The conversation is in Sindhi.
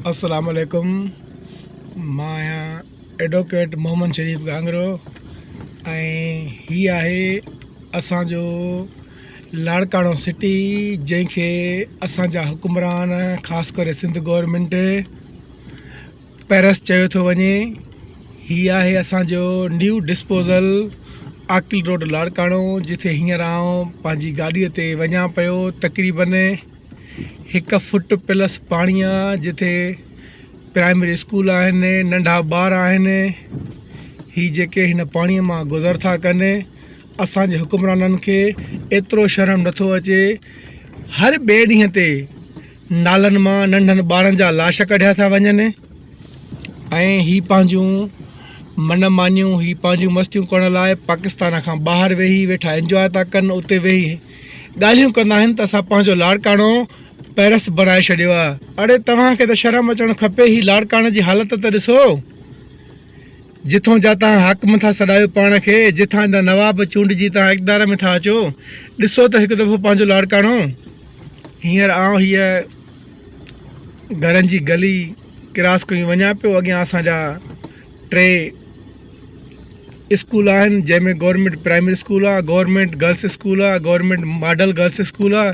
السلام عليڪم مان آهيان ايڊووڪيٽ محمد شريف گهاگرو ۽ هي آهي اسانجو لاڙڪاڻو سٽي جنهن کي اسانجا حڪمران خاص ڪري سنڌ گورنمينٽ پيرس چيو ٿو وڃي هي آهي اسان جو new disposal Aqil road Larkana جتي هينئر آئون پنهنجي گاڏيء تي وڃان پيو تقريبن هڪ فٽ پلس پاڻي آ جتي پرائمري اسڪول آهن ننڍا ٻار آهن هي جيڪي هن پاڻيء مان گذر ٿا ڪن اسانجي حڪمرانن کي ايترو شرم نٿو اچي هر ٻئي ڏينهن تي نالن مان ننڍن ٻارن جا لاش ڪڍيا ٿا وڃن ۽ هي پنهنجون من مانيون هي پنهنجون مستيون ڪرڻ لاء پاڪستان کان ٻاهر ويهي ويٺا انجواء ٿا ڪن اتي ويهي ڳالهيون ڪندا آهن ته اسان پنهنجو لاڙڪاڻو پيرس بڻائي ڇڏيو آهي اڙي توهان کي ته شرم اچڻ کپي هي لاڙڪاڻي جي حالت ته ڏسو جتون جا تان حاڪم ٿا سڏايو پاڻ کي جتان جا نواب چونڊجي تان اقدار ۾ ٿا اچو ڏسو ته هڪ دفعو پنهنجو لاڙڪاڻو هينئر آئون هيء گهرن جي گلي ڪراس ڪيون وڃان پيو اڳيان اسان جا ٽي اسڪول آهن جنهن ۾ گورنمنٽ پرائمري اسڪول آهي گورنمنٽ گرلس اسڪول آهي گورنمنٽ ماڊل گرلس اسڪول آهي